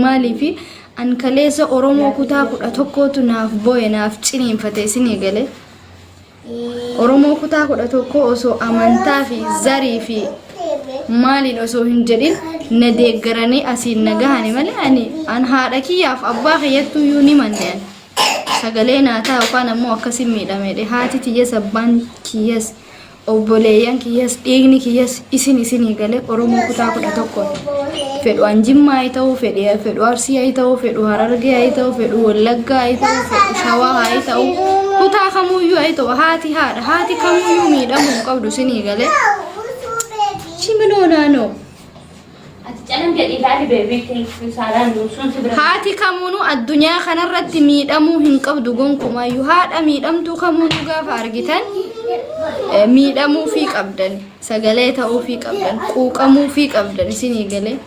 Maaliif an kaleessa Oromoo kutaa kudha tokkootu naaf booye naaf ciniinfate isinii gale. Oromoo kutaa kudha tokkoo osoo amantaa fi zarii fi maaliin osoo hin jedhin na deeggaranii asiin na gahani malee ani an haadha kiyyaaf abbaa kiyyattuu iyyuu ni manne ani. Sagalee naa ta'a yookaan ammoo akkasiin miidhamedhe haati tiyyas abbaan kiyyas Obboleeyyan kiyyas dhiigni kiyyas isin isinii galee Oromoo kutaa kudha tokkooti. Fedhu an Jimmaa haa ta'u, fedhe fedhu Arsii haa ta'u, fedhu Harargee haa ta'u, fedhu Wallaggaa haa ta'u, fedhu Shawaa haa ta'u, kutaa kamuuyyuu haa ta'u haati haadha haati kamuuyyuu miidhamuu hin qabdu isinii galee. Chimiloo naanoo. Ati calan jedhi ilaali beebii thank you saaraan nuusuun si bira. Haati kamuunuu addunyaa kanarratti miidhamuu hin qabdu gonkumaayyuu haadha miidhamtuu kamuunuu gaafa argitan eh, miidhamuufii qabdan sagalee ta'uufii qabdan quuqamuufii qabdan isinii galee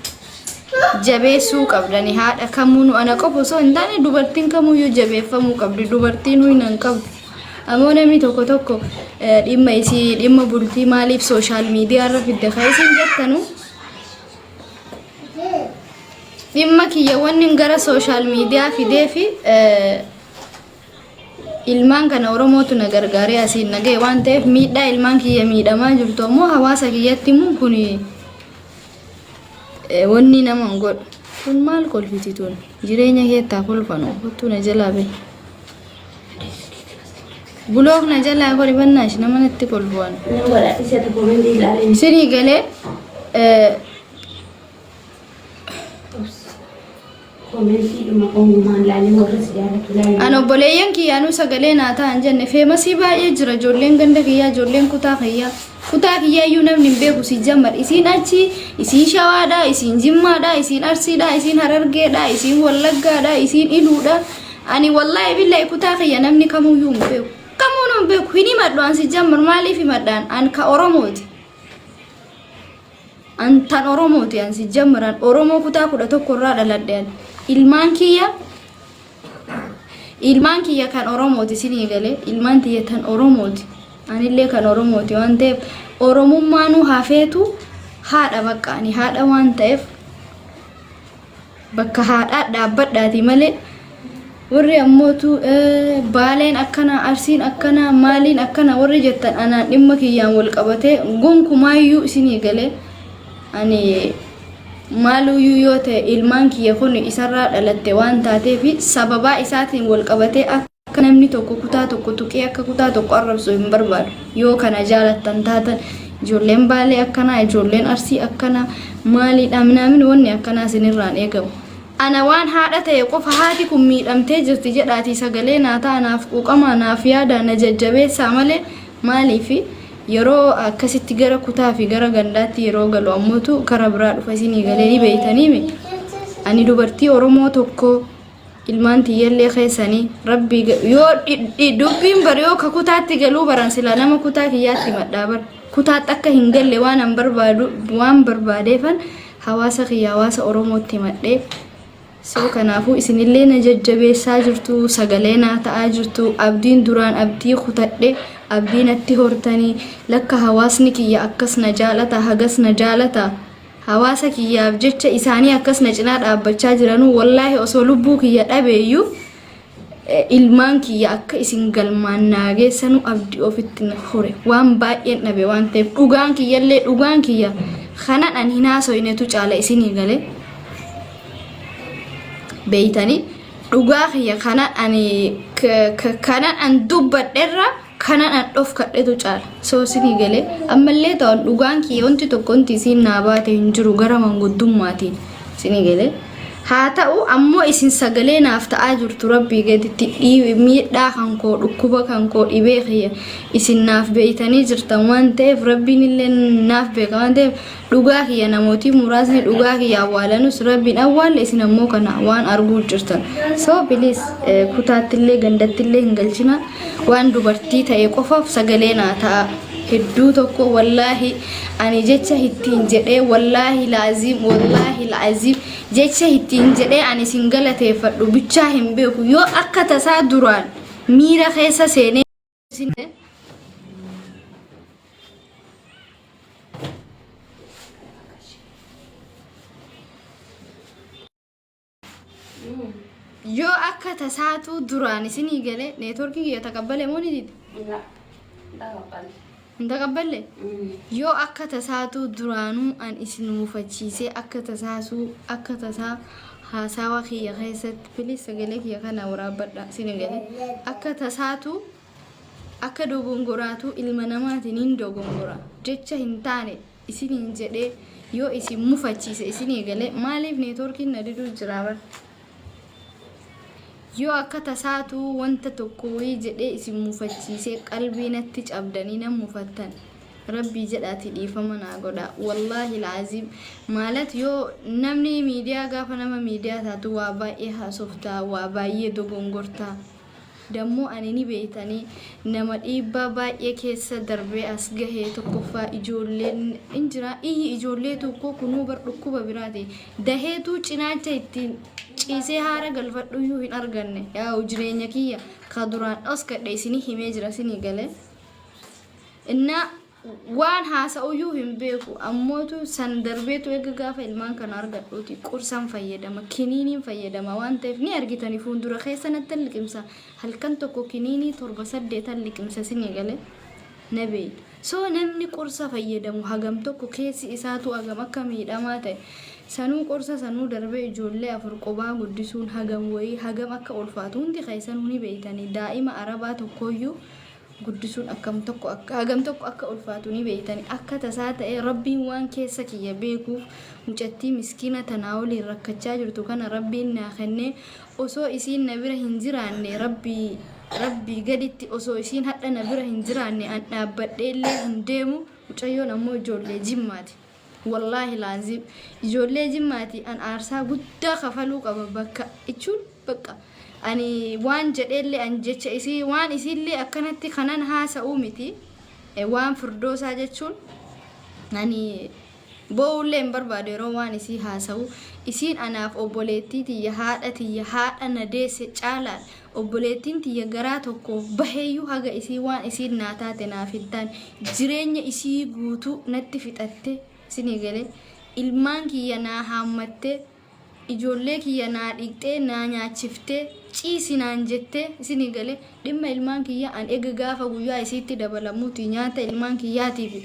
jabeessuu qabdan haadha kamuunuu ana qofa osoo hin taane dubartiin kamuuyyuu jabeeffamuu qabdi dubartiinuu hin qabdu. Amoo namni tokko tokko dhimma isii dhimma bultii maaliif sooshaal miidiyaa irra fidde kan isin jettanu dhimma kiyya wanni gara sooshaal miidiyaa fidee fi ilmaan kana oromootu na gargaaree asiin na ga'e waan ta'eef miidhaa ilmaan kiyya miidhamaa jirtu ammoo hawaasa kiyyatti immoo kun wanni nama hin godhu kun maal kolfiti tun jireenya keettaa kolfanu kottuu na jalaa bee. Bulook na jalaa godhi bannaash nama natti kolbu'an. Nama godha isa tokko mandi ilaalee. Isinii galee eh, Komentii dhuma uumaan ilaalee warra si jaallatu ilaalee. an obboleeyyan kiyyaanuu sagalee naa ta'an jenne feemasii baay'ee jira ijoolleen ganda kiyyaa ijoolleen kutaa kiyyaa. Kutaa kiyyaa iyyuu namni hin beeku si jammar isiin achi isiin shawaadha isiin jimmaadha isiin arsiidha isiin harargeedha isiin wallaggaadha isiin iluudha Ani wallahi billahi kutaa kiyya namni kamuyyuu hin beeku. Kamuun hin beeku hin himadhu an si jammar maaliif himadhaan an ka Oromooti. An tan Oromooti an si jammar an Oromoo kutaa kudha tokko irraa dhaladhe an ilmaan kiyya ilmaan kiyya kan Oromooti sinii galee ilmaan tiyya tan Oromooti anillee kan Oromooti waan ta'eef Oromummaanuu hafeetu haadha baqqaani haadha waan ta'eef bakka haadhaa dhaabbadhaati malee warri ammootu baaleen akkana arsiin akkana maaliin akkana warri jettan anaan dhimma kiyyaan wal qabatee gonkumaayyuu isinii galee ani maaluyyuu yoo ta'e ilmaan kiyya kun isarraa dhalatte waan taateef sababaa isaatiin wal qabatee akka Akka namni tokko kutaa tokko tuqee akka kutaa tokko arrabsu hin barbaadu. Yoo kana jaalattan taatan ijoolleen baalee akkanaa ijoolleen arsii akkanaa maaliidha minaamin wanni akkanaa isinirraan eegamu. Ana waan haadha ta'e qofa haati kun miidhamtee jirti jedhaatii sagalee naa ta'a naaf quuqamaa naaf yaadaa na jajjabeessaa malee maaliifi yeroo akkasitti gara kutaa fi gara gandaatti yeroo galu ammootu kara biraa dhufa isinii galee ni beeytaniimi. Ani dubartii Oromoo tokko ilmaan tiyyallee keessanii rabbii ga- yoo dhi- dhi- dubbiin bar yoo ka kutaatti galuu baran silaa nama kutaa kiyyaatti madhaa bar kutaatti akka hin galle waan an barbaadu waan barbaadeefan hawaasa kiyya hawaasa oromootti madhee soo kanaafuu isinillee na jajjabeessaa jirtu sagalee naa ta'aa jirtu abdiin duraan abdii kutadhe abdii natti hortanii lakka hawaasni kiyya akkas na jaalata hagas na jaalata Hawaasa kiyyaaf jecha isaanii akkas na cinaa dhaabbachaa jiranuu wallaahi osoo lubbuu kiyya dhabeeyyu ilmaan kiyya akka isin galmaan naa geessanuu abdi ofitti na hore waan baay'een dhabe waan ta'eef dhugaan kiyyallee dhugaan kiyya kanan an hin haasoynetu caala isinii gale beeytanii dhugaa kiyya kanan ani kanan an dubbadherra kanan an dhofkadhetu caala so sini gale ammallee ta'an dhugaan kiyya wanti tokko wanti isiin naa baate hin jiru gara manguddummaatiin sini gale haa ta'u ammoo isin sagalee naaf ta'aa jirtu rabbii gaditti dhii- miidhaa kan koo dhukkuba kan koo dhibee kiyya isin naaf beeytanii jirtan waan ta'eef rabbiin illee naaf beeka waan ta'eef Dhugaa kiyya namooti muraasni dhugaa kiyya awwaalanus rabbiin awwaalle isin ammoo kana waan arguu jirtan so bilis kutaattillee gandattillee hin galchina waan dubartii ta'e qofaaf sagalee naa ta'a hedduu tokko wallaahi ani jecha ittiin jedhee wallaahi laaziim wallaahi laaziim jecha ittiin jedhee ani isin galateeffadhu bichaa hin beeku yoo akka tasaa duraan miira keessa seenee Yoo akka tasaatuu duraan isinii galee neetworkii kiyya taqabbale moo ni dide? Ila, ila kabbale. Hin taqabballe? Yoo akka tasaatuu duraanuu an isin mufachiisee akka tasaasuu akka tasaa haasaawa kiyya keessatti please sagalee kiyya kana waraabbadhaa isin hin gale akka tasaatuu akka dogongoraatuu ilma namaatiin hin dogongora jecha hin taane isiniin jedhee yoo isin mufachiise isin eegale maaliif neetworkiin na diduu jira bar yoo akka tasaatu wanta tokko wayii jedhee isin mufachiisee qalbii natti cabdanii nan mufattan rabbii jedhaati dhiifama naa godha wallaahi laaziim maalat yoo namni miidiyaa gaafa nama miidiyaa taatu waa baay'ee haasofta waa baay'ee dogongorta Dammoo ani ni beektani nama dhiibbaa baay'ee keessa darbee as gahe tokkoffaa ijoolleen in jira iyyi ijoollee tokkoo kunuu bar dhukkuba biraati daheetuu cinaacha ittiin ciisee haara galfadhuyyuu hin arganne yaa'u jireenya kiyya ka duraan dhoskadhe isinii himee jira sinii gale innaa Waan haasa'uyyuu hin beeku. Ammootu san darbeetu eega gaafa ilmaan kana argadhuuti qorsan fayyadama, kiniiniin fayyadama waan ta'eef ni argitani fuundura keessanattan liqimsa. Halkan tokko kiniinii torba saddeetan liqimsa sin eegale na beeyta. So namni qorsa fayyadamu hagam tokko keessi isaatu hagam akka miidhamaa ta'e sanuu qorsa sanuu darbee ijoollee afur qobaa guddisuun hagam wayii hagam akka ulfaatu hundi keessanuu ni beeytani. Daa'ima Arabaa tokkooyyuu guddisuun akkam tokko akka hagam tokko akka ulfaatu ni beeytani akka tasaa ta'ee rabbiin waan keessa kiyya beekuuf mucattii miskiina tanaa waliin rakkachaa jirtu kana rabbiin naa kennee osoo isiin na bira hin jiraanne rabbii rabbii gaditti osoo isiin hadha na bira hin jiraanne an dhaabbadheellee hin deemu mucayyoon ammoo ijoollee jimmaati Wallaahi laaziim ijoollee jimmaati an aarsaa guddaa kafaluu qaba bakka jechuun bakka ani waan jedheellee an jecha isii waan isiillee akkanatti kanan haasa'uu miti waan firdoosaa jechuun ani boo'ullee hin barbaadu yeroo waan isii haasa'u isiin anaaf obboleettii tiyya haadha tiyya haadha na deesse caalaan Obboleettiin tiyya garaa tokko baheeyyuu haga isiin waan isiin naa taate naaf hin taane jireenya isii guutuu natti fixattee, isinii galee? Ilmaan kiyya naa haammattee, ijoollee kiyya naa dhiqxee, naa nyaachiftee, ciisi naan jettee, isinii galee? Dhimma ilmaan kiyyaa an ega gaafa guyyaa isiitti dabalamuutii nyaata ilmaan kiyyaatii fi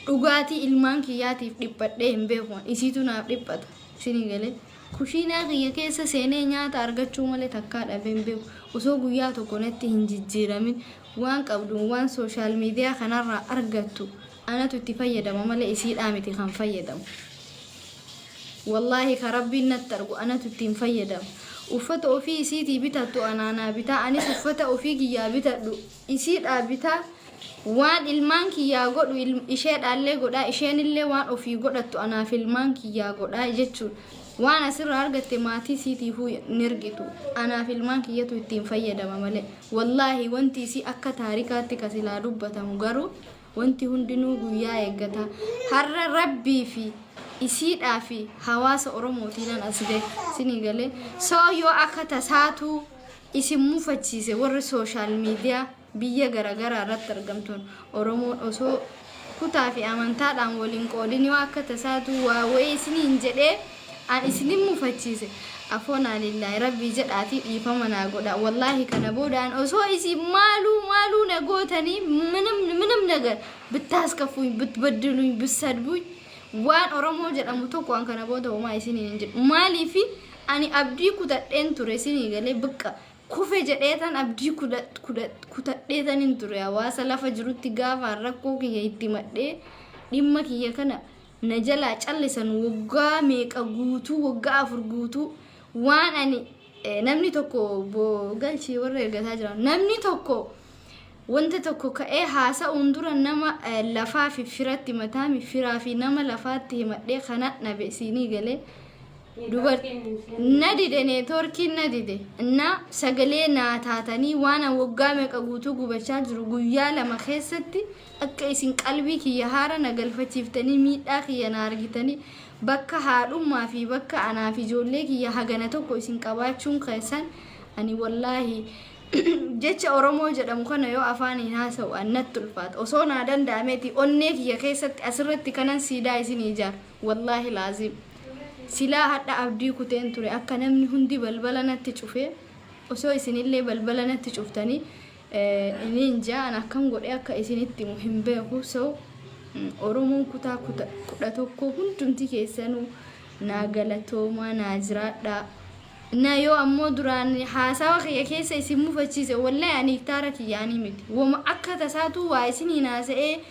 dhugaatii ilmaan kiyyaatiif dhiphadhee hin beeku an, isiitu naaf dhiphata, isinii galee? Kushiinaa kiyya keessa seenee nyaata argachuu malee takkaa dhabee hin beeku. Osoo guyyaa tokko natti hin jijjiiramin waan qabduun waan social media kanarraa argattu anatu itti fayyadama malee isiidhaa miti kan fayyadamu. Wallaahi ka Rabbiin natti argu anatu ittiin fayyadama. Uffata ofii isiitii bitattu anaa naa bitaa anis uffata ofii kiyyaa bitadhu isiidhaa bitaa, waan ilmaan kiyyaa godhu isheedhaallee godhaa, isheenillee waan ofii godhattu anaaf ilmaan kiyyaa godhaa jechuun waan asirraa argatte maatii isiitiifuu hin ergitu. Anaaf ilmaan kiyyatu ittiin fayyadama malee. Wallaahi wanti isii akka taarikaatti ka silaa dubbatamu garuu wanti hundinuu guyyaa eeggata. Har'a Rabbii fi isiidhaa fi hawaasa Oromootiinan as gahe. Isinii galee? So yoo akka tasaatuu Isin mufachiise warri social media biyya garagaraa irratti argamtuun oromoon osoo kutaa fi amantaadhaan wal hin qoodin yoo akka tasaatuu waa wayii isiniin jedhee an isinin mufachiise afoonaa lillaah rabbii jedhaatii dhiifama naa godhaa wallaahi kana booda an osoo isin maaluu maaluu na gootanii minam minam nagar bittaaskafuuny bitbaddiluuny bissadbuuny waan oromoo jedhamu tokko an kana booda homaa isiniin hin jedhu maaliifi Ani abdii kutadheen ture sinii galee bqqa kufe jedheetan abdii kutadheetanin ture hawaasa lafa jirutti gaafaan rakkoo kiyya itti himadhee dhimma kiyya kana na jalaa callisan woggaa meeqa guutuu woggaa afur guutuu waan ani namni tokko obbo galchii warra ergataa jiran namni tokko wanta tokko ka'ee haasa'uun dura nama lafaa fi firatti mataami firaa fi nama lafaatti himadhee kana nabe siinii galee na dide neetwoorkiin na dide na sagalee naa taatanii waan an waggaa meeqa guutuu gubachaa jiru guyyaa lama keessatti akka isin qalbii kiyya haara na galfachiiftanii miidhaa kiyya na argitanii bakka haadhummaa fi bakka anaa fi ijoollee kiyya hagana tokko isin qabaachuun keessan ani wallaahi jecha oromoo jedhamu kana yoo afaaniin haasa'u an natti ulfaata osoo naa danda'ameeti onnee kiyya keessatti asirratti kanan siidaa isinii ijaara. Wallaahi laaziim silaa hadha abdii kuteen ture akka namni hundi balbala natti cufe osoo isinillee balbala natti cuftanii ininjaa an akkam godhee akka isinitti himu hin beeku so oromoon kutaa kuta kudha tokko hundumti keessanuu naa galatoomaa naa jiraadhaa na yoo ammoo duraan haasawa kiyya keessa isin mufachiise wallahi ani iktaara kiyyaanii miti woma akka tasaatuu waa isin hin haasa'ee